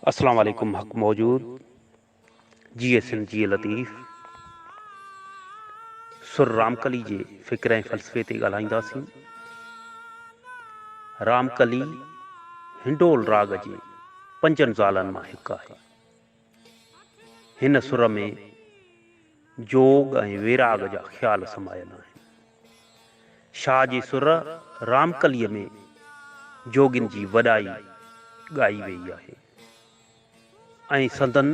اسلام عليڪم حق موجود جي اي سنڌ جي لطيف سر رامڪلي جي فڪر ۽ فلسفي تي ڳالهائينداسين رامڪلي هنڊول راڳ جي پنجن زالن مان هڪ آهي هن سر ۾ جوڳ ۽ ويراڳ جا خيال سمايل آهن شاهه جي سر رامڪليء ۾ جوڳين جي وڏائي ڳائي ويئي آهي ۽ سندن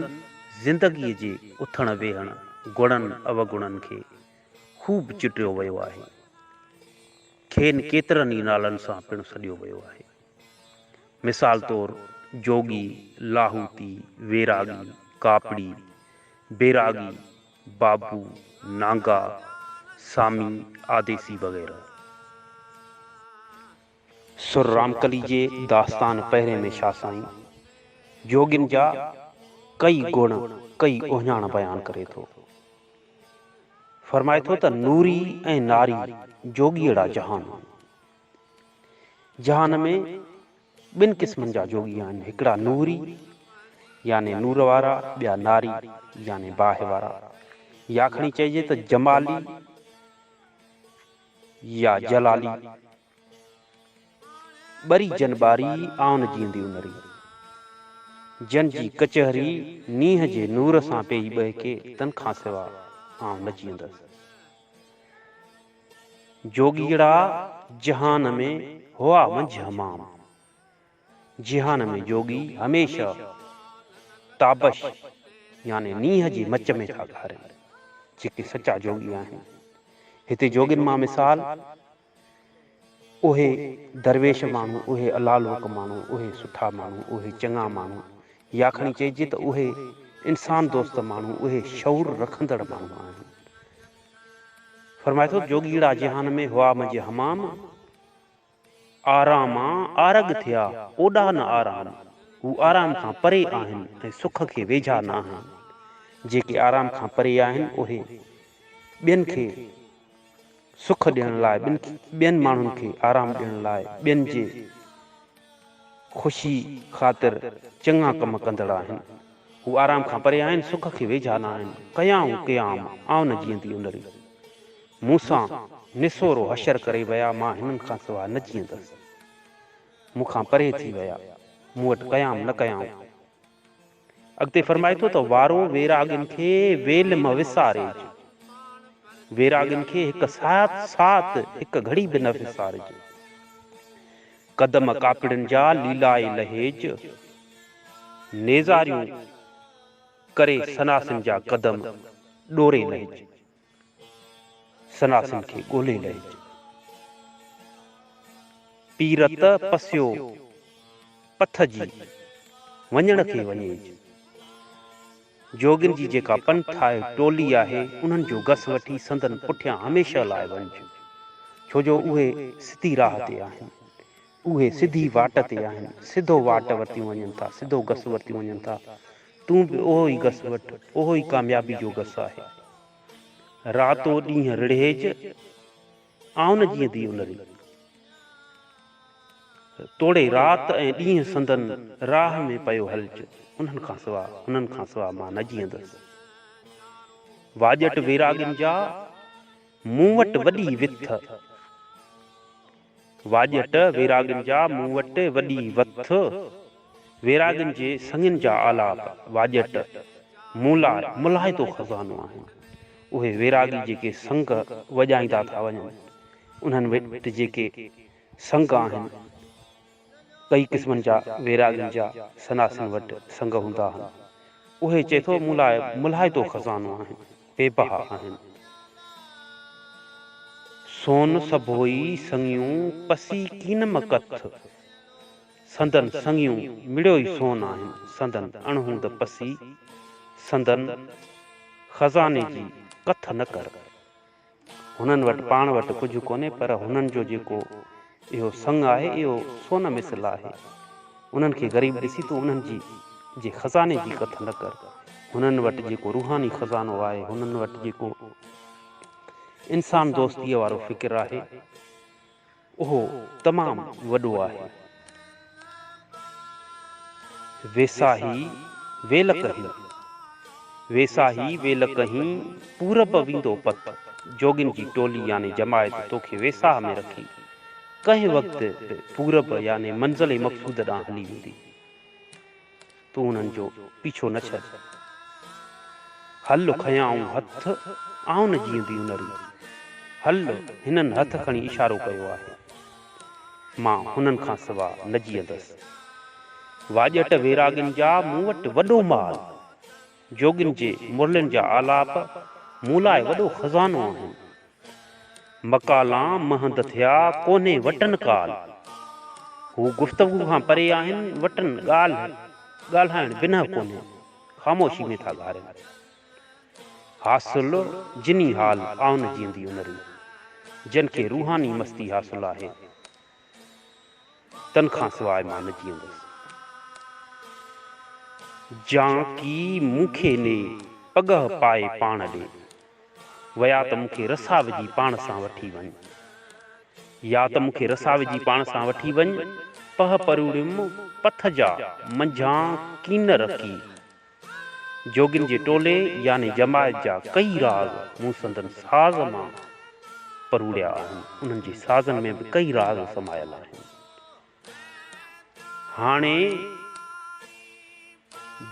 زندگيء جي اٿڻ ويهڻ، گڻن اوگڻن کي خوب چٽيو ويو آهي. کين ڪيترن ئي نالن سان پڻ سڏيو ويو آهي. مثال طور جوڳي، لاهوتي، ويراڳي، ڪاپڙي، بيراڳي، بابو، نانگا، سامي، آديسي وغيره. سر رامڪلي جي داستان پهرين ۾ شاهه سائين جوڳين جا ڪئي گڻ، ڪئي اهڃاڻ بيان ڪري ٿو. فرمائي ٿو ته نوري ۽ ناري جوڳيئڙا جهان. جهان ۾ ٻن قسمن جا جوڳي آهن، هڪڙا نوري يعني نور وارا، ٻيا ناري يعني باهه وارا، يا کڻي چئجي ته جمالي يا جلالي. ٻري جن ٻاري، آن جيئندي انري. جن جي ڪچهري نينهن جي نور سان پيئي ٻهڪي، تن کان سوا آئون نه جيئندس. جوڳيڙا جهان ۾ هئا منجهه همام. جهان ۾ جوڳي هميشه تابش يعني نينهن جي مچ ۾ ٿا گهارين. جيڪي سچا جوڳي آهن. هتي جوڳين مان مثال اهي درويش ماڻهو، اهي الالوڪ ماڻهو، اهي سٺا ماڻهو، اهي چڱا ماڻهو يا کڻي چئجي ته اهي انسان دوست ماڻهو، اهي شعور رکندڙ ماڻهو آهن. فرمائي ٿو جوڳيئڙا جهان ۾ هئا منجهه همام آراما آرڳ ٿيا اوڏا نه آرام هو آرام کان پري آهن ۽ سک کي ويجها ناهن جيڪي آرام کان پري آهن اهي ٻين کي سک ڏيڻ لاء ٻين ماڻهن کي آرام ڏيڻ لاء ٻين جي خوشي خاطر چڱا ڪم ڪندڙ آهن. هو آرام کان پري آهن، سک کي ويجها نه آهن. ڪيائون قيام، آئون نه جيئندي ان ري. مون سان نسورو حشر ڪري ويا، مان هنن کان سوا نه جيئندس. مون کان پري ٿي ويا، مون وٽ قيام نه ڪيائون. اڳتي فرمائي ٿو ته وارو ويراڳين کي ويل م وسارج، ويراڳين کي هڪ ساعت ساعت هڪ گهڙي به نه وسارج، قدم ڪاپڙين جا ليلائي لهيج، نيزاريون ڪري سناسين جا قدم ڏوري لهيج. سناسن کي ڳولي لهج. پير ته پسيو پٿ جي وڃڻ کي وڃيج. جوڳين جي جيڪا پنٿ آهي، ٽولي آهي، انهن جو گس وٺي سندن پٺيان هميشه لاء وڃج. ڇو جو اهي سڌي راهه تي آهن. اهي سڌي واٽ تي آهن، سڌو واٽ ورتيون وڃن ٿا، سڌو گس ورتيون وڃن ٿا، تون به اهو ئي گس وٺ، اهو ئي ڪاميابي جو گس آهي. راتو ڏينهن رڙهيج، آئون جيئن دي الري. توڙي رات ۽ ڏينهن سندن راهه ۾ پيو هلج، انهن کان سوا، انهن کان سوا مان نه جيئندس. واڄٽ ويراڳين جا، مون وٽ وڏي وٿ. واڄٽ ويراڳن جا مون وٽ وڏي وٿ، ويراڳن جي سڱن جا آلاپ، واڄٽ، مون لاء ملهائتو خزانو آهن. اهي ويراڳي جيڪي سڱ وڄائيندا ٿا وڃن، انهن وٽ جيڪي سڱ آهن، ڪئي قسمن جا ويراڳين جا سناسين وٽ سنگ هوندا آهن. اهي چئي ٿو مون لاء ملهائتو خزانو آهن، بي بها آهن. سون سڀوئي سڱيون پسي ڪين مڪٿ، سندن سڱيون مڙيو ئي سون آهن، سندن اڻهوند پسي، سندن خزاني جي ڪٿ نه ڪر. هنن وٽ پاڻ وٽ ڪجهه ڪونهي پر هنن جو جيڪو اهو سڱ آهي اهو سون مثل آهي. انهن کي غريب ڏسي تون انهن جي جي خزاني جي ڪٿ نه ڪر. هنن وٽ جيڪو روحاني خزانو آهي، هنن وٽ جيڪو انسان دوستيء وارو فڪر آهي، اهو تمام وڏو آهي. ويساهي ويل ڪهين، ويساهي ويل ڪهين پورب ويندو پت، جوڳين جي ٽولي يعني جماعت توکي ويساهه ۾ رکي، ڪنهن وقت به پورب يعني منزل مقصود ڏانهن هلي ويندي. تون انهن جو پيڇو نه ڇڏ. هل کنيائون هٿ آئون جيئنديون نريون. هل هنن هٿ کڻي اشارو ڪيو آهي. مان هنن کان سوا نه جيئندس. واڄٽ ويراڳين جا مون وٽ وڏو مال. جوڳين جي مرلين جا آلاپ مون لاء وڏو خزانو آهن. مڪالان مهند ٿيا ڪونهي وٽن ڪال. هو گفتگو کان پري آهن وٽن ڳالهه ڳالهائڻ بنهه ڪونهي خاموشي ۾ ٿا گهارين. حاصل جني حال آهن جيئندي انريون جن کي روحاني مستي حاصل آهي. تن کان سواء مان نه جيئندس. جانڪي مون کي ني پڳهه پائي پاڻ ڏي ويا ته مون کي رسا وجهي پاڻ سان وٺي وڃ. يا ته مون کي رسا وجهي پاڻ سان وٺي وڃ. پهه پروڙيم پٿ جا منجهان ڪين رکي جوڳين جي ٽولي يعني جماعت جا ڪيئي راڳ مون سندن ساز مان پروڙيا آهن. انهن جي سازن ۾ به ڪيئي راڳ سمايل آهن. هاڻي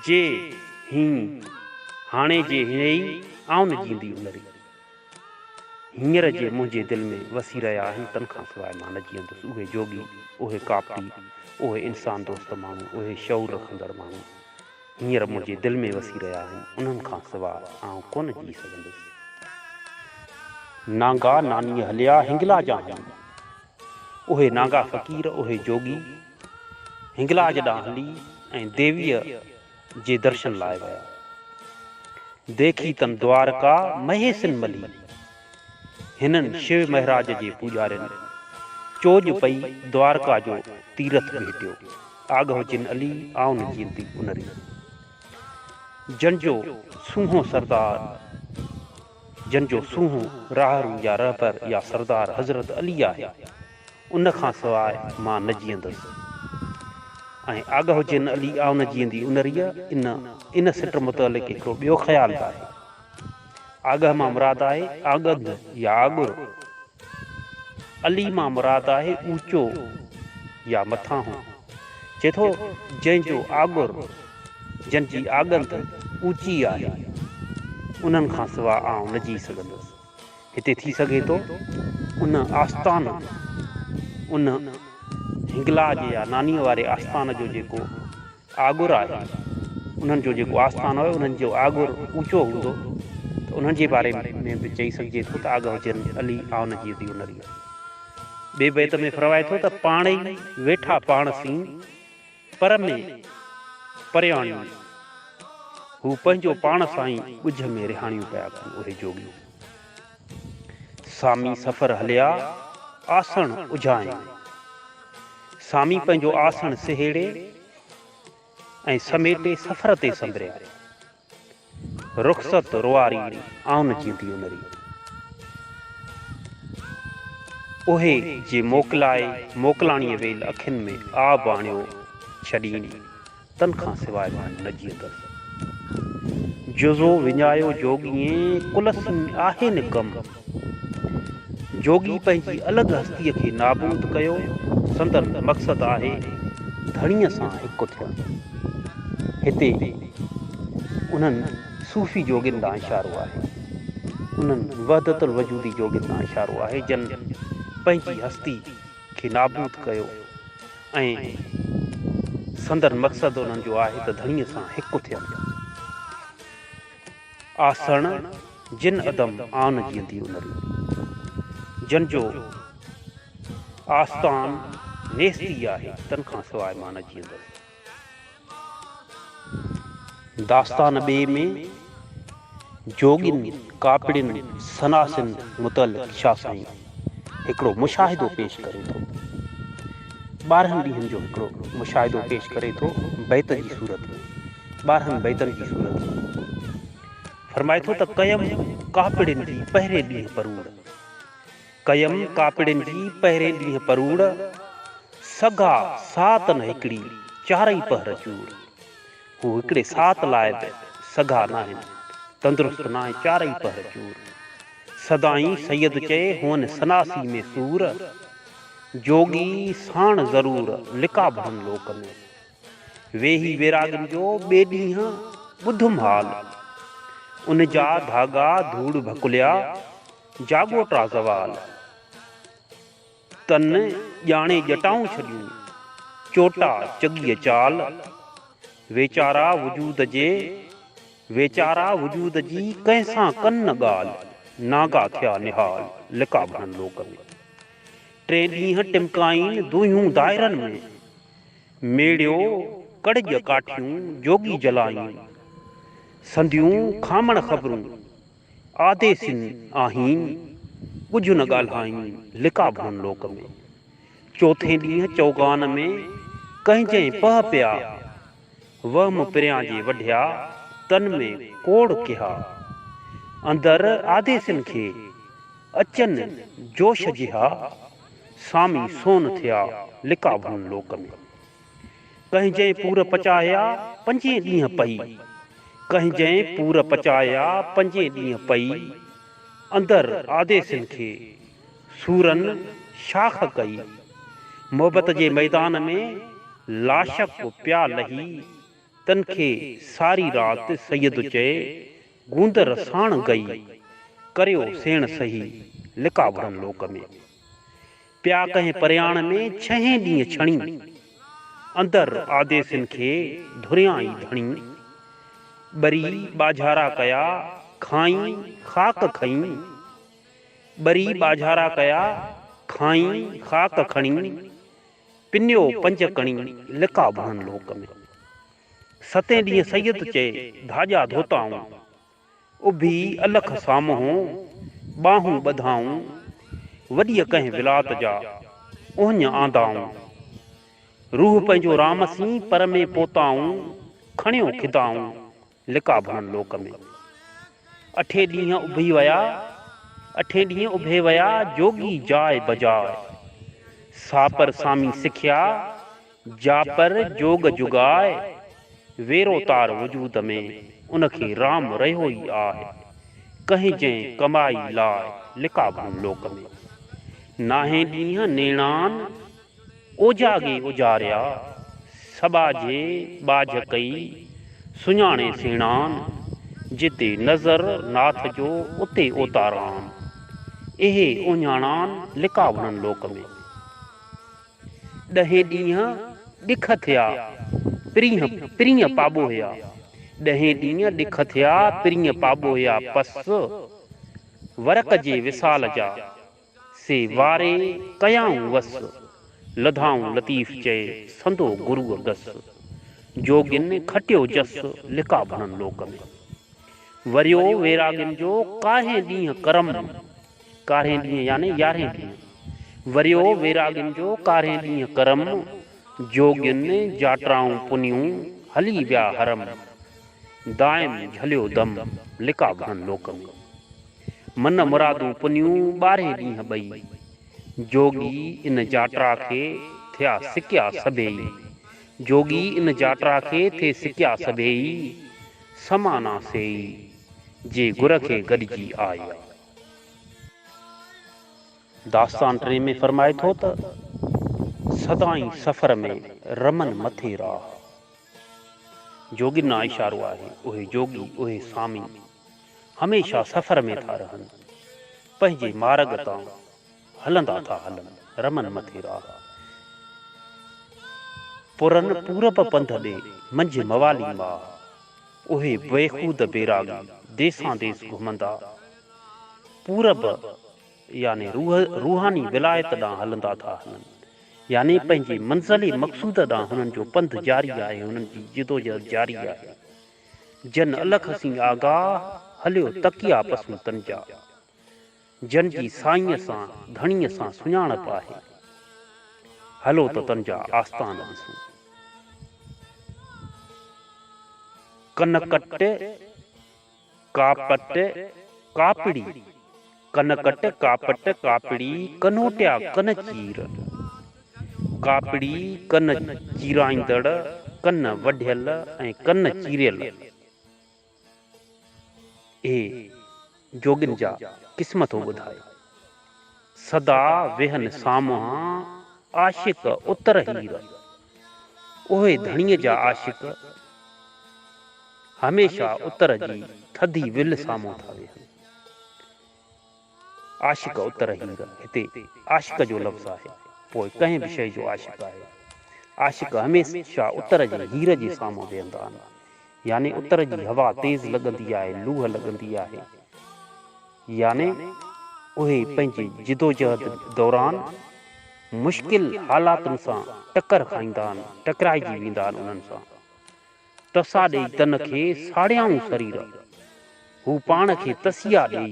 جي هين، هاڻي جي هينئي، آئون جيندي انري، هينئر جي منهنجي دل ۾ وسي رهيا آهن، تن کان سواء مان نه جيئندس. اهي جوڳي، اهي ڪاپٽي، اهي انسان دوست ماڻهو، اهي شعور رکندڙ ماڻهو، هينئر منهنجي دل ۾ وسي رهيا آهن، انهن کان سواء آئون ڪونه جيئي سگهندس. نانگا نانيء هليا هنگلاج آهن. اهي نانگا فقير، اهي جوڳي، هنگلاج ڏانهن هلي ۽ ديويء جي درشن لاء ويا. ديکي تن دوارڪا مهيسن ملي. هنن شو مهراج جي پوڄارين چوڄ پئي دوارڪا جو تيرٿ ڀيٽيو، آگهه جن علي آئون جينتي انري. جن جو سونهون سردار جن جو سونهون راهرو يا رهبر يا سردار حضرت علي آهي، ان کان سواء مان نه جيئندس. ۽ آگهه جن علي آئون جيئندي انريء ان ان سٽ متعلق هڪڙو ٻيو خيال به آهي. آڳهه مان مراد آهي آڳد يا آڳر. علي مان مراد آهي اوچو يا مٿانهون. چئي ٿو، جنهن جو آڳر، جن جي آڳنڌ، اوچي آهي، انهن کان سوا آئون نه جيئي سگهندس. هتي ٿي سگهي ٿو، ان آستان، ان هنگلاج يا نانيء واري آستان جو جيڪو آڳر آهي، انهن جو جيڪو آسمان آهي انهن جو آڳر اوچو هوندو ته انهن جي باري ۾ به چئي سگهجي ٿو ته آگهه جن علي آن جي ديو نريء. ٻئي بيت ۾ فرمائي ٿو ته پاڻ ئي ويٺا پاڻ سين پر ۾ پرياڻيون هو پنهنجو پاڻ سائين ڳجهه ۾ رهاڻيون پيا ڪن اهي جوڳي. سامي سفر هليا آسڻ اجهائين. سامي پنهنجو آسڻ سهيڙي ۽ سميٽي سفر تي سنبريا. رخصت روئاري آن جيندي انري. اهي جي موڪلائي موڪلاڻيء ويل اکين ۾ آب آڻيو ڇڏين. تن کان سواء مان نه جيئندس. جزو وڃايو جوڳيين ڪلس ۾ آهي نه ڪم. جوڳي پنهنجي الڳ هستيء کي نابود ڪيو، سندن مقصد آهي ڌڻيء سان هڪ ٿيڻ. هتي انهن صوفي جوڳين ڏانهن اشارو آهي. انهن وحدت الوجودي جوڳين ڏانهن اشارو آهي، جن پنهنجي هستي کي نابود ڪيو. ۽ سندن مقصد انهن جو آهي ته ڌڻيء سان هڪ ٿين. آسڻ جن ادم آن جيندي انري. جن جو آستان نيستي آهي، تن کان سواء مان نه جيندس. داستان ٻئي ۾ جوڳين، ڪاپڙين، سناسين متعلق شاهه سائين هڪڙو مشاهدو پيش ڪري ٿو. ٻارهن ڏينهن جو هڪڙو مشاهدو پيش ڪري ٿو بيت جي صورت ۾، ٻارهن بيتن جي صورت ۾. فرمائي ٿو ته ڪيم ڪاپڙين جي پهرين ڏينهن پروڙ. ڪيم ڪاپڙين جي پهرين ڏينهن پروڙ، سگا ساعتن هڪڙي چارئي پهر چوڙ. هو هڪڙي ساعت لاء به سگا ناهن، تندرست ناهي چارئي پهر چور. سدائين سيد چئي هئن سناسي ۾ سور، جوڳي ساڻ ضرور لقا ڀرن لوڪ ۾. ويهي ويراڳن جو ٻئي ڏينهن ٻڌم حال، ان جا ڌاڳا ڌوڙ ڀڪليا. جاڳو ٽا زوال، تن ڄاڻي ڄٽائون ڇڏيون، چوٽا چڳيء چال، ويچارا وجود جي، ويچارا وجود جي، ڪنهن سان ڪن نه ڳالهه، ناگا ٿيا نهال، لقا ڀرن لوڪ ۾. ٽي ڏينهن ٽمڪائين دونهيون دائرن ۾، ميڙيو ڪڙڄ ڪاٺيون جوڳي جلائين، سنديون کامڻ خبرون، آديسين آهين، ڪجهه نه ڳالهائين لڪا ڀون لوڪ ۾. چوٿين ڏينهن چوغان ۾ ڪنهن جنهن پهه پيا. وهم پريان جي وڍيا، تن ۾ ڪوڙ ڪيها. اندر آديسين کي، اچن جوش جيها. سامي سون ٿيا، لڪا ڀون لوڪ ۾. ڪنهن جئين پور پچايا پنجين ڏينهن پئي ڪنهن جئين پور پچايا پنجين ڏينهن پئي اندر آديسين کي سورن شاخ ڪئي محبت جي ميدان ۾ لاشڪ پيا لهي تن کي ساري رات سيد چئي گوندر ساڻ گئي ڪريو سيڻ سهي لقاء وڙهن لوڪ ۾. پيا ڪنهن پرياڻ ۾ ڇهين ڏينهن ڇڻي، اندر آديسين کي ڌريان ئي ڌڻي. ٻري ٻاجهارا ڪيا، کانئن خاڪ کڻي. ٻري ٻاجهارا ڪيا، کانئن خاڪ کڻي. پنيو پنج ڪڻي، لقا ڀڻن لوڪ ۾. ستين ڏينهن سيد چئي، ڌاڄا ڌوتائون، اڀي الخ سامهون ٻانهون ٻڌائون، وڏيء ڪنهن ولات جا اهڃ آندائون. روح پنهنجو رام سين پر ۾ پوتائون، کڻيو کدائون لقا ڀڻن لوڪ ۾. اٺي ڏينهن اڀي ويا، اٺي ڏينهن اڀي ويا، جوڳي جاء بجاء. ساپر سامي سکيا، جا پر جوڳ جوڳاء ويرو تار وجود ۾، ان کي رام رهيو ئي آهه، ڪنهن جنهن ڪمائي لاء لقاء ڀون لوڪ ۾. ناهين ڏينهن نيڻان اوجاڳي اوجاريا، سٻاجهي ٻاجهه ڪئي، سڃاڻي سيڻان، جتي نظر ناٿ جو اتي اوتاران، اهي اهڃاڻان لقاء ڀڻن لوڪ ۾. ڏهين ڏينهن ڏک ٿيا، پرينء پرينء پاٻوهيا. ڏهين ڏينهن ڏک ٿيا، پرينء پاٻوهيا. پس ورق جي وصال جا، سي واري ڪيائون وس. لڌائون لطيف چئي، سندو گروء گس. جوڳين کٽيو جس، لقاء ڀڻن لوڪ ۾. وريو ويراڳين جو، ڪاهين ڏينهن ڪرم. ڪارهين ڏينهن يعني يارهين ڏينهن وريو ويراڳين جو ڪارهين ڏينهن ڪرم جوڳين جاٽرائون پنيون هلي ويا حرم دائم جهليو دم لقا گهڻن لوڪ ۾ من مرادون پنيون ٻارهين ڏينهن ٻئي جوڳي ان جاٽرا کي ٿيا سڪيا سڀيئي جوڳي ان جاٽرا کي ٿي سڪيا سڀيئي سمانا سيئي جي گر کي گڏجي آيا. داستان ٽئين ۾ فرمائي ٿو ته، سدائين سفر ۾ رمن مٿي راهه. جوڳين اشارو آهي، اهي جوڳي، اهي سامي، هميشه سفر ۾ ٿا رهن، پنهنجي مارڳ تان. هلندا ٿا هلن رمن مٿي راهه. پرن پورب پنڌ ڏي منجهه موالي ماهه. اهي بيخود بيراڳي ديسان ديس گهمندا پورب يعني روح روحاني ولايت ڏانهن هلندا ٿا هلن يعني پنهنجي منزل مقصود ڏانهن هنن جو پنڌ جاري آهي هنن جي جدوجهد جاري آهي جن الخ سين آگاهه هليو تڪيا پسون تن جا جن جي سائينء سان ڌڻيء سان سڃاڻپ آهي، هلو ته تن جا آستان ڏسون. ڪنڪٽ، ڪاپٽ، ڪاپڙي، ڪنڪٽ، ڪاپٽ، ڪاپڙي، ڪنوٽيا، ڪن چير، ڪاپڙي، ڪن چيرائيندڙ، ڪن وڍيل ۽ ڪن چيريل، اي جوڳين جا قسم ٿو ٻڌائي. سدا ويهن سامهان عاشق اتر هير. اهي ڌڻيء جا عاشق هميشه اتر جي ٿڌي ولهه سامهون ٿا ويهن. عاشق اتر هير، هتي عاشق جو لفظ آهي، پوء ڪنهن به شيء جو عاشق آهي. عاشق هميشه اتر جي هير جي سامهون ويهندا آهن. يعني اتر جي هوا تيز لڳندي آهي، لوهه لڳندي آهي. يعني اهي پنهنجي جدوجهد دوران مشڪل حالاتن سان ٽڪر کائيندا آهن، ٽڪرائجي ويندا آهن انهن سان. ٽسا ڏيئي تن کي ساڙيائون سرير. هو پاڻ کي تسيا ڏيئي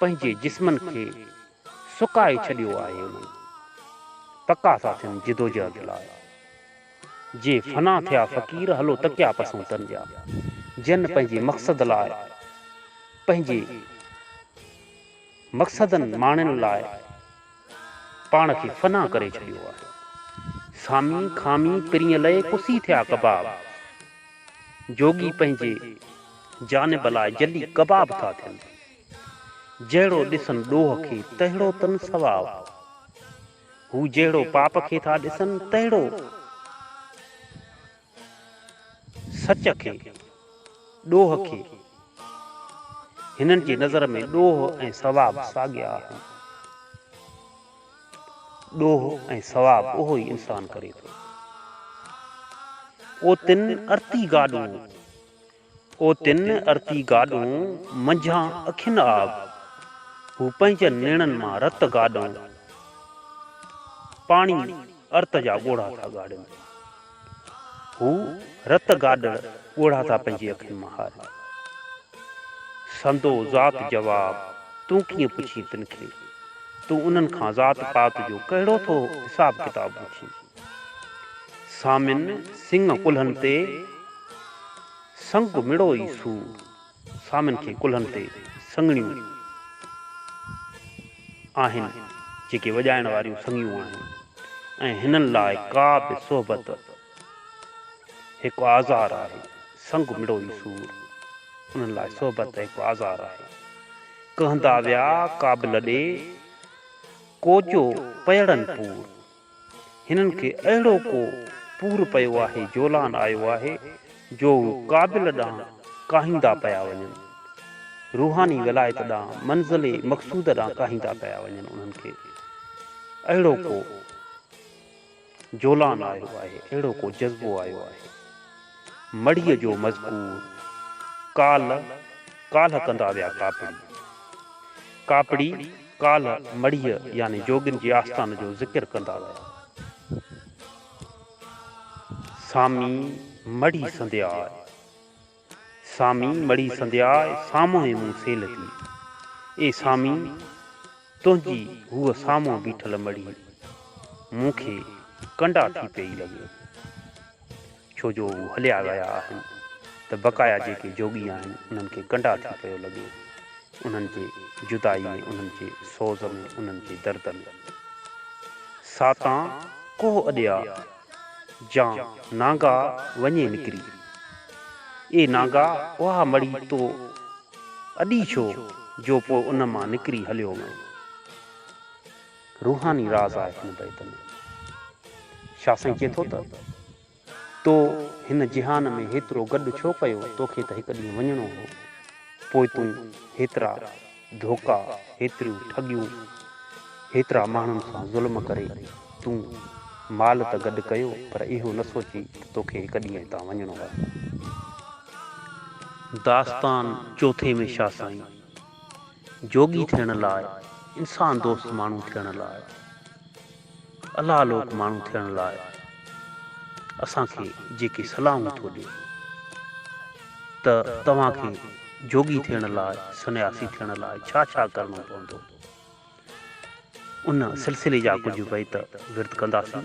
پنهنجي جسمن کي سڪائي ڇڏيو آهي انهن پڪا ساٿين جدوجهد لاء جي فنا ٿيا فقير هلو تڪيا پسون تن جا جن پنهنجي مقصد لاء پنهنجي مقصدن ماڻين لاء پاڻ کي فنا ڪري ڇڏيو آهي. سامي خامي پرينء لئي ڪسي ٿيا ڪباب. جوڳي پنهنجي جانب لاء جلي ڪباب ٿا ٿين. جهڙو ڏسن ڏوهه کي تهڙو تن ثواب. هو جهڙو پاپ کي ٿا ڏسن تهڙو. سچ کي، ڏوهه کي، هنن جي نظر ۾ ڏوهه ۽ ثواب ساڳيا آهن. ڏوهه ۽ ثواب اهو ئي انسان ڪري ٿو. اوتن ارتي گاڏون او تن ارتي گاڏون، منجهان اکين آب، هو پنهنجن نيڻن مان رت گاڏون، پاڻي ارت جا ڳوڙها ٿا ڳاڙين. هو رت گاڏڙ ڳوڙها ٿا پنهنجي اکين مان هارين. سندو ذات جواب تون ڪيئن پڇين تن کي، تون انهن کان ذات پات جو ڪهڙو ٿو حساب ڪتاب پڇين. سامن سڱ ڪلهن تي، سڱ مڙو ئي سور. سامن کي ڪلهن تي سڱڻيون آهن، جيڪي وڄائڻ واريون سڱيون آهن ۽ هنن لاء ڪا به صحبت هڪ آزار آهي. سڱ مڙو ئي سور. انهن لاء صحبت هڪ آزار آهي. ڪهندا ويا ڪابل ڏي، ڪوچو پيئڙن پور. هنن کي اهڙو ڪو پور پيو آهي، جولان آيو آهي، جو هو ڪابل ڏانهن ڪاهيندا پيا وڃن. روحاني ولايت ڏانهن، منزل مقصوده ڏانهن ڪاهيندا پيا وڃن انهن کي. اهڙو ڪو جولان آيو آهي، اهڙو ڪو جذبو آيو آهي. مڙهيء جو مذڪور ڪالهه ڪالهه ڪندا ويا ڪاپڙي ڪاپڙي ڪالهه مڙهيء يعني جوڳين جي آستان جو ذڪر ڪندا ويا سامي مڙهي سندياء سامي مڙهي سندياء سامهون ئي مون سيل ٿي اي سامي تنهنجي هوء سامهون بيٺل مڙهي مون کي ڪنڊا ٿي پئي لڳي ڇو جو هو هليا ويا آهن ته بقايا جيڪي جوڳي آهن انهن کي ڪنڊا ٿي پيو لڳي. انهن جي جدائي ۾، انهن جي سوز ۾، انهن جي درد ۾. ساتان ڪوهه اڏيا، جان نانگا وڃي نڪري. اي نانگا اها مڙي تو اڏي ڇو جو پوء ان مان نڪري هليو وئين. روحاني راز آهي هن بيت ۾. شاهه سائين چئي ٿو ته، تو هن جهان ۾ هيترو گڏ ڇو ڪيو؟ توکي ته هڪ ڏينهن وڃڻو هو. پوء تون هيترا ڌوڪا، هيتريون ٺڳيون، هيترا ماڻهن سان ظلم ڪري، تون مال ته گڏ ڪيو، پر اهو نه سوچي ته توکي هڪ ڏينهن هتان وڃڻو آهي. داستان چوٿين ۾ شاهه سائين. جوڳي ٿيڻ لاء، انسان دوست ماڻهو ٿيڻ لاء، الله لوڪ ماڻهو ٿيڻ لاء اسان کي جيڪي صلاحون ٿو ڏي ته توهان کي جوڳي ٿيڻ لاء، سنياسي ٿيڻ لاء ڇا ڇا ڪرڻو پوندو. ان سلسلي جا ڪجهه بيت ورد ڪنداسين.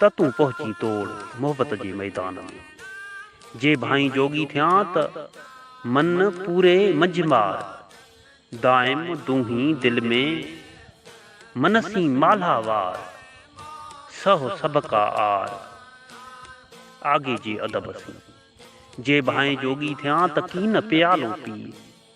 ته تون پهچي توڙ محبت جي ميدان ۾. جي ڀانئين جوڳي ٿيان ته من پوري منجهه مار. دائم دونهين دل ۾ من سين مالها وار. سهه سڀ ڪا عار آگي جي ادب سين. جي ڀانئين جوڳي ٿيان ته ڪين پيالو پي.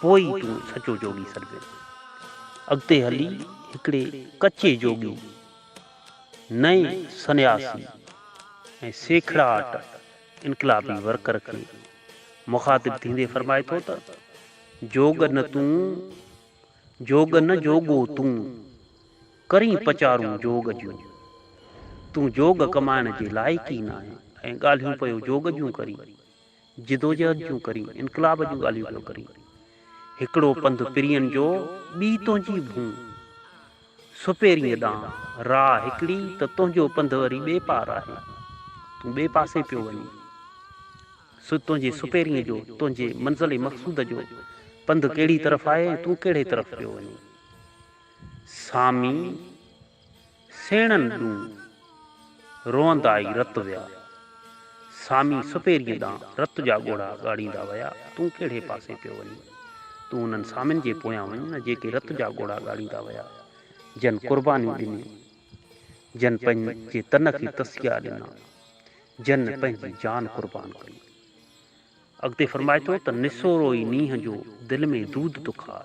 پوء ئي تون سچو جوڳي سڏبين. اڳتي هلي هڪڙي ڪچي جوڳي، نئين سنياسي ۽ سيکڙاٽ انقلابي ورڪر کي مخاطب ٿيندي فرمائي ٿو ته، جوڳ نه تون، جوڳ نه جوڳو تون، ڪرين پچارون جوڳ جون. تون جوڳ ڪمائڻ جي لائق ئي ناهين ۽ ڳالهيون پيو جوڳ جون ڪرين. جدوجهد جون ڪرين، انقلاب جون ڳالهيون پيو ڪرين. هڪڙو پنڌ پرين جو، ٻي تنهنجي ڀونء. سپيريء ڏانهن راء هڪڙي ته تنهنجو پنڌ وري ٻئي پار آهي. تون ٻئي پاسي پيو وڃين. سو تنهنجي سپيريء جو، تنهنجي منزل مقصود جو پنڌ ڪهڙي طرف آهي ۽ تون ڪهڙي طرف پيو وڃين. سامي. سيڻن ڏون روئندا ئي رت ويا. سامي سپيريء ڏانهن رت جا ڳوڙها ڳاڙيندا ويا، تون ڪهڙي پاسي پيو وڃين؟ تون انهن سامين جي پويان وڃ نه جيڪي رت جا ڳوڙها ڳاڙيندا ويا، جن قربانيون ڏنيون، جن پنهنجي تن کي تسيا ڏنا، جن پنهنجي جان قربان ڪئي. اڳتي فرمائي ٿو ته نسورو ئي نينهن جو دل ۾ دود تکاء.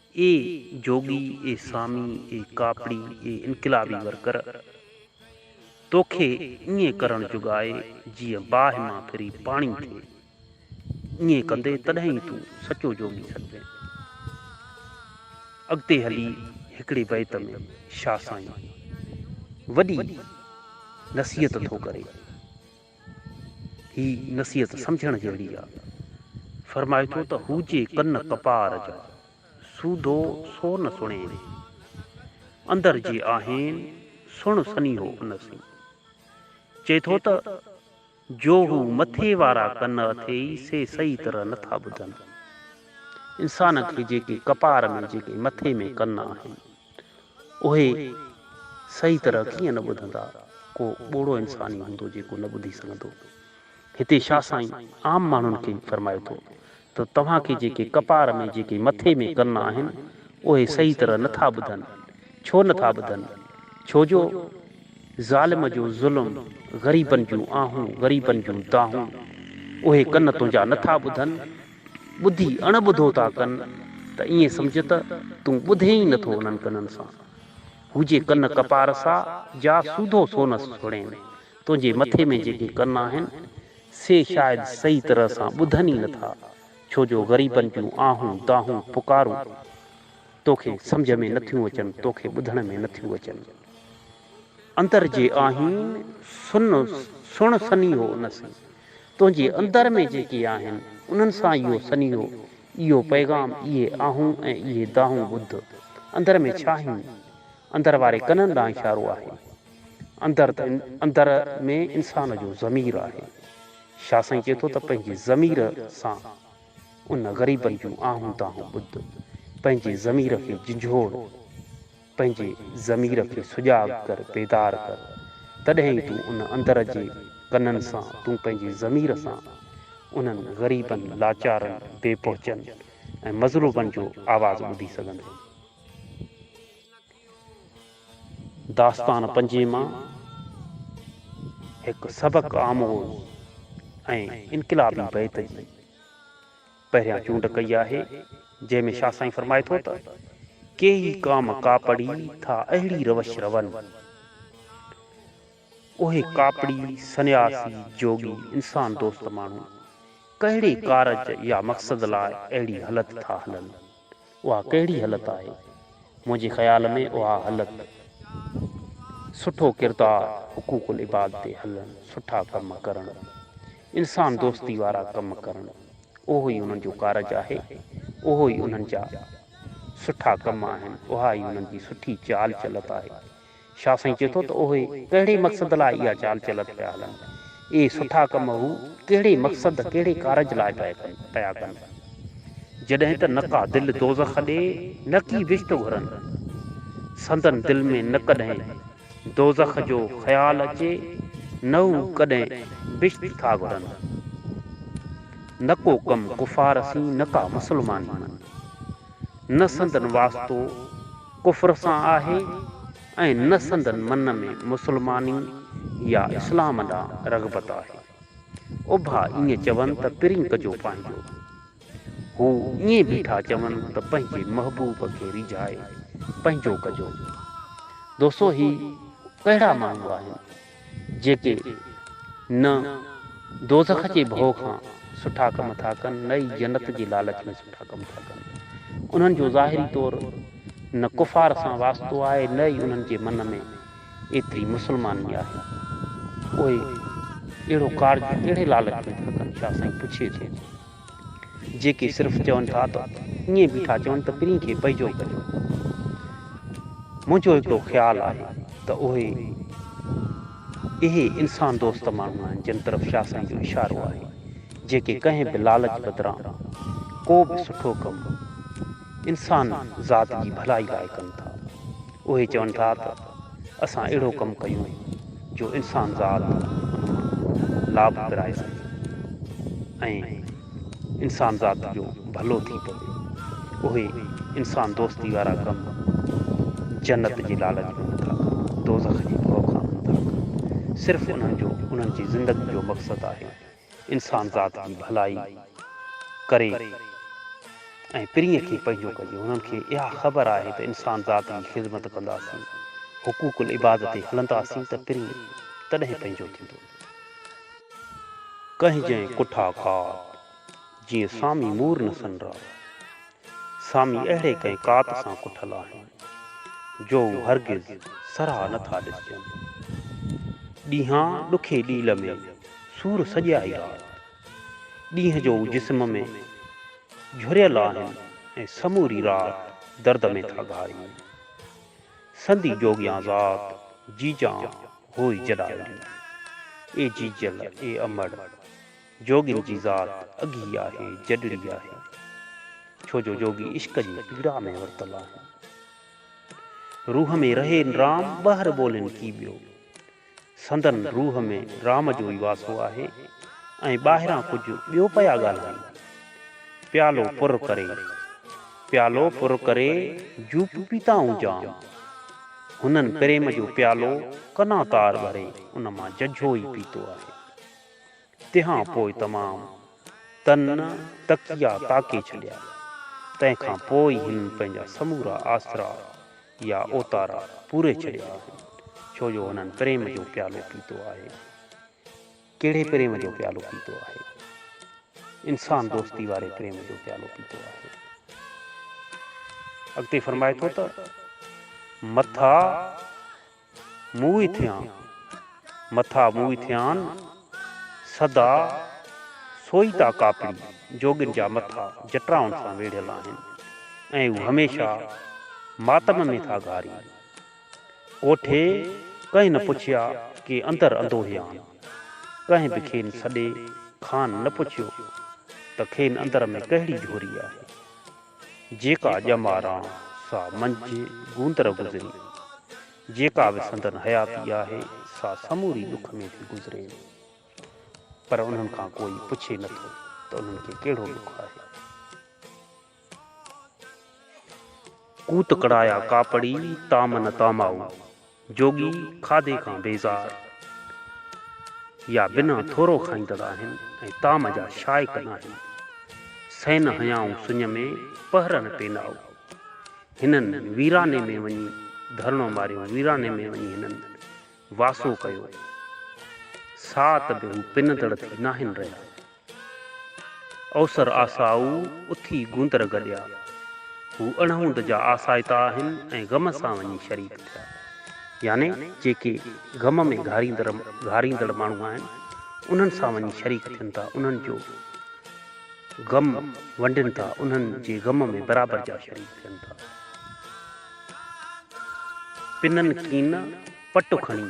اي جوڳي، اي سامي، اي ڪاپڙي، اي انقلابي ورڪر! توکي ائين ڪرڻ جوڳائي جيئن باهه مان ڦري پاڻي ٿئي. ائين ڪندي تڏهن ئي تون سچو جوڳي سڏبين. اڳتي هلي هڪڙي بيت ۾ شاهه سائين وڏي نصيحت ٿو ڪري هي نصيحت سمجهڻ جهڙي آ. فرمائي ٿو ته هوجي ڪن ڪپار جا، سوڌو سو نه سڻين. اندر جي آهين، سڻ سنيهو ان سين. چئي ٿو ته، جو هو مٿي وارا ڪن اٿيئي سي صحيح طرح نه ٿا ٻڌن. انسان کي جيڪي ڪپار ۾ جيڪي مٿي ۾ ڪن آهن. اهي صحيح طرح ڪيئن نه ٻڌندا؟ ڪو ٻوڙو انسان ئي هوندو جيڪو نه ٻڌي سگهندو. هتي شاهه سائين عام ماڻهن کي به فرمائي ٿو ته توهان کي جيڪي ڪپار ۾ جيڪي مٿي ۾ ڪن آهن اهي صحيح طرح نه ٿا ٻڌن. ڇو نه ٿا ٻڌن؟ ڇو جو ظالم جو ظلم، غريبن جون آهون، غريبن جون دانهون اهي ڪن تنهنجا نه ٿا ٻڌن. ٻڌي اڻ ٻڌو ٿا ڪن ته ائين سمجهه ته تون ٻڌين ئي نٿو انهن ڪنن سان. هو جي ڪن ڪپار سا جا سوڌو سونس سڙين، تنهنجي مٿي ۾ جيڪي ڪن آهن، سي شايد صحيح طرح سان ٻڌن ئي نٿا، ڇو جو غريبن جون آهون، دانهون، پڪارون توکي سمجهه ۾ نٿيون اچن، توکي ٻڌڻ ۾ نٿيون اچن. اندر جي آهين سن سڻ سنيهو ان سين. تنهنجي اندر ۾ جيڪي آهن انهن سان اهو سنيهو، اهو پيغام، اهي آهون ۽ اهي دانهون ٻڌ. اندر ۾ ڇا آهين؟ اندر واري ڪنن ڏانهن اشارو آهي. اندر ته اندر ۾ انسان جو ضمير آهي. شاهه سائين چئي ٿو ته پنهنجي ضمير سان ان غريبن جون آهون دانهون ٻڌ. پنهنجي ضمير کي جنجهوڙ. پنهنجي ضمير کي سجاڳ ڪر، بيدار ڪر، تڏهن ئي تون ان اندر جي ڪنن سان، تون پنهنجي ضمير سان انهن غريبن، لاچارن، بي پهچن ۽ مظلومن جو آواز ٻڌي سگهندين. داستان پنجين مان هڪ سبق آموز ۽ انقلابي بيت جي پهريان چونڊ ڪئي آهي، جنهن ۾ شاهه سائين فرمائي ٿو ته، ڪيئي ڪام ڪاپڙي ٿا اهڙي روش روئن. اهي ڪاپڙي، سنياسي، جوڳي، انسان دوست ماڻهو، ڪهڙي ڪارج يا مقصد لاء اهڙي هلت ٿا هلن. اها ڪهڙي هلت آهي؟ منهنجي خيال ۾ اها هلت سٺو ڪردار، حقوق العباد تي هلڻ، سٺا ڪم ڪرڻ، انسان دوستي وارا ڪم ڪرڻ، اهو ئي انهن جو ڪارج آهي، اهو ئي انهن جا سٺا ڪم آهن، اها ئي انهن جي سٺي چال چلت آهي. شاهه سائين چئي ٿو ته اهي ڪهڙي مقصد لاء اها چال چلت پيا هلن؟ اهي سٺا ڪم هو ڪهڙي مقصد، ڪهڙي ڪارج لاء پيا ڪن؟ جڏهن ته نڪا دل دوزخ ڏي نه ڪي بهشت گهرن. سندن دل ۾ نه ڪڏهن دوزخ جو خيال اچي نه هو ڪڏهن بهشت ٿا گهرن. نه ڪو ڪم ڪفار سين نه ڪا مسلماني مان. نه سندن واسطو. ڪفر سان آهي ۽ نه سندن من ۾ مسلماني يا اسلام ڏانهن رغبت آهي. اڀا ائين چون ته پرين ڪجو پنهنجو. هو ائين بيٺا چون ته پنهنجي محبوب کي ريجهائي پنهنجو ڪجو. دوسو هي ڪهڙا ماڻهو آهن؟ جيڪي نه دوزخ جي ڀؤ کان سٺا ڪم ٿا ڪن نه ئي جنت جي لالچ ۾ سٺا ڪم ٿا ڪن. انهن جو ظاهري طور نه ڪفار سان واسطو آهي نه ئي انهن جي من ۾ ايتري مسلماني آهي. اهي اهڙو ڪارج ڪهڙي لالچ ۾ ٿا ڪن؟ شاهه سائين پڇي ٿو. جيڪي صرف چون ٿا ته ائين به ٿا چون ته پرين کي پئجو ڪريو. منهنجو هڪڙو خيال آهي ته اهي اهي انسان دوست ماڻهو آهن جن طرف شاهه سائين جو اشارو آهي جيڪي ڪنهن به لالچ بدران ڪو به سٺو ڪم انسان ذات جي ڀلائي لاء ڪن ٿا. اهي چون ٿا ته اسان اهڙو ڪم ڪيون جو انسان ذات لاڀ پرائي سگهي ۽ انسان ذات جو ڀلو ٿي پوي. اهي انسان دوستي وارا ڪم جنت جي لالچ ۾ نٿا ڪن، دوزخ جي ڀؤ کان ڪن ٿا. صرف انهن جو انهن جي زندگي جو مقصد آهي انسانذات جي ڀلائي ڪري ۽ پرينء کي پنهنجو ڪجي. هنن کي اها خبر آهي ته انسانذات جي خذمت ڪنداسين، حقوق العباد تي هلنداسين ته پرينء تڏهن پنهنجو ٿيندو. ڪهجين ڪٺا کاڌ، جيئن سامي مور نه سنرا. سامي اهڙي ڪنهن ڪات سان ڪٺل آهن، جو هو هرگز سرها نه ٿا ڏسجن. ڏينهان ڏکي ڏيل ۾ سور سڄيا ئي رات، ڏينهن جو جسم ۾ جهريل آهن ۽ سموري رات درد ۾ ٿا گهارين. سندي جوڳيان ذات جيجان هوء جڏائري. اي جيجل! اي امڙ! جوڳين جي ذات اگهي آهي جڏڙي آهي ڇو جو جوڳي عشق جي پيڙا ۾ ورتل آهن روح ۾ رهي رام ٻهر ٻولين ڪي ٻيو سندن روح ۾ رام جو ئي واسو آهي ۽ ٻاهران ڪجهه ٻيو پيا ڳالهائين پيالو پر ڪري پيالو پر ڪري جوپ پيتائون جام هنن پريم جو پيالو ڪنا تار ڀري ان مان ججهو ئي پيتو آهي تنهان پوء تمام تن تڪيا تاڪي ڇڏيا. تنهن کان پوء ئي هن پنهنجا سمورا آسرا يا اوتارا پوري ڇڏيا آهن، ڇو جو هنن پريم جو پيالو پيتو آهي. ڪهڙي پريم جو پيالو پيتو آهي؟ انسان دوستي واري پريم جو پيالو پيتو آهي. اڳتي فرمائي ٿو ته، مٿا! موئي ٿيان، مٿا موئي ٿيان، سدا سوئيتا ڪاپڙي جوڳين جا مٿا جٽرائن سان ويڙهيل آهن ۽ هو هميشه ماتم ۾ ٿا گهارين. ڪوٺي ڪنهن نه پڇيا ڪي اندر اندوهيان. ڪنهن به کين سڏي کان نه پڇيو ته کين اندر ۾ ڪهڙي جهوري آهي. جيڪا ڄماران سا منجهه گوندر گذري، جيڪا به سندن حياتي آهي، سا سموري ڏک ۾ ٿي گذري، پر انهن کان ڪوئي پڇي نه ٿو ته انهن کي ڪهڙو ڏک آهي. ڪوت ڪڙايا ڪاپڙي، تام نه تامائو. جوڳي کاڌي کان بيزار يا بنا ٿورو کائيندڙ آهن ۽ طعام جا شائق ناهن. سين هنيائون سڃ ۾، پهرن پينائو. هنن ويراني ۾ وڃي ڌرڻو ماريو، ويراني ۾ وڃي هنن واسو ڪيو. ساعت به هو پنندڙ ٿي ناهن رهيا. اوسر آسائو اٿي گوندر گڏيا. هو اڻهوند جا آسائتا آهن ۽ غم سان وڃي شريڪ ٿيا. يعني جيڪي غم ۾ گهاريندڙ ماڻهو آهن، انهن سان وڃي شريڪ ٿين ٿا، انهن جو غم ونڊين ٿا، انهن جي غم ۾ برابر جا شريڪ ٿين ٿا. پنن ڪين پٽ کڻي.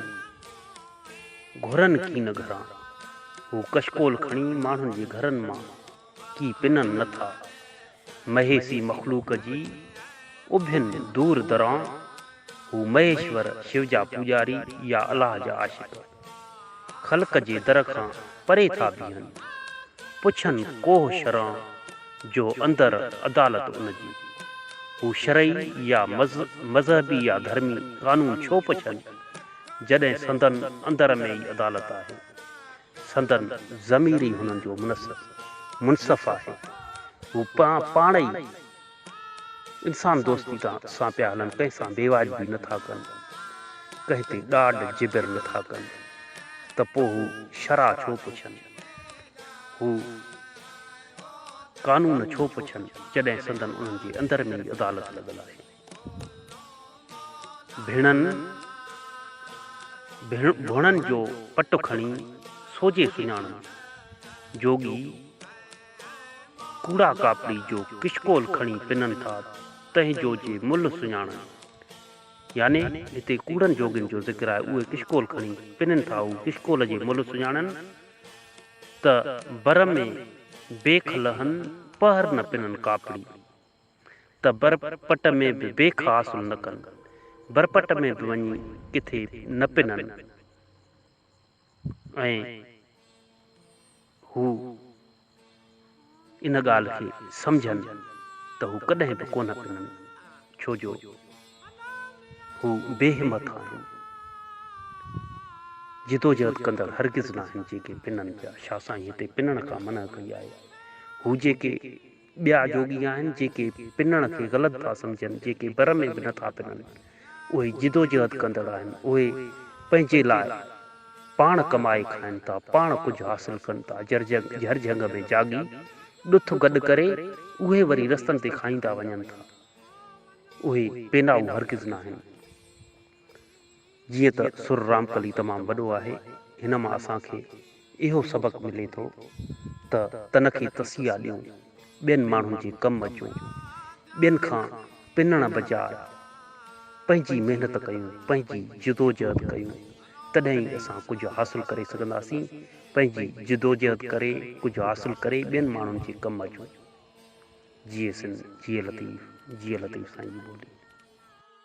گهرن ڪي نه گهران. هو ڪشڪول کڻي ماڻهن جي گهرن مان ڪي پنن نه ٿا. مهيسي مخلوق جي اڀين دور دران هو مهيشور شو جا پوڄاري يا الله جا عاشق خلق جي در کان پري ٿا بيهن. پڇن ڪوهه شران جو اندر عدالت ان جي. هو شرعي يا مذهبي يا ڌرمي قانون ڇو پڇن؟ جڏهن سندن اندر ۾ ئي عدالت آهي. سندن ضمير ئي هنن جو منصف، منصف آهي. هو پاڻ ئي انسان دوستي سان پيا هلن، ڪنهن سان بيواجبي نه ٿا ڪن، ڪنهن تي ڏاڍ جبر نه ٿا ڪن، ته پوء هو شرع ڇو پڇن، هو قانون ڇو پڇن، جڏهن سندن انهن جي اندر ۾ ئي عدالت لڳل آهي. ڀيڻن ڀوڻن جو پٽ کڻي سوجهي سڃاڻن. جوڳي ڪوڙا ڪاپڙي جو ڪشڪول کڻي پنن ٿا تنهن جو جي ملهه سڃاڻن. يعني هتي ڪوڙن جوڳين جو ذڪر آهي اهي ڪشڪول کڻي پنن ٿا هو ڪشڪول جي ملهه سڃاڻن ته بر ۾ بيک لهن پهر نه پنن ڪاپڙي. ته بر پٽ ۾ به بي خاصون نه ڪن، بر پٽ ۾ به وڃي ڪٿي نه پنن ۽ هو ان ڳالهه کي سمجهن ته هو ڪڏهن به ڪونه پنن، ڇو جو هو بي همٿ آهن، جدوجهد ڪندڙ هرگز ناهن جيڪي پنن پيا، شاهه سائين هتي پنڻ کان منع ڪئي آهي، هو جيڪي. ٻيا جوڳي آهن جيڪي پنڻ کي غلط ٿا سمجهن، جيڪي بر ۾ به نه ٿا پنن، اهي جدوجهد ڪندڙ آهن، اهي پنهنجي لاء پاڻ ڪمائي کائن ٿا، پاڻ ڪجهه حاصل ڪن ٿا، جهر جهنگ ۾ جاڳي ڏٿ گڏ ڪري اهي وري رستن تي کائيندا وڃن ٿا، اهي پينائو هرگز ناهن. جيئن ته سر رامڪلي تمام وڏو آهي، هن مان اسان کي اهو سبق ملي ٿو ته تنکي تسيا ڏيون، ٻين ماڻهن جي ڪم اچون، ٻين کان پنڻ بجاء پنهنجي محنت ڪيون، پنهنجي جدوجهد ڪيون، تڏهن ئي اسان ڪجهه حاصل ڪري سگهنداسين، پنهنجي جدوجهد ڪري، ڪجهه حاصل ڪري ٻين ماڻهن جي ڪم اچون. جيئي سنڌ، جيئي لطيف، جيئي لطيف سائين جي ٻولي.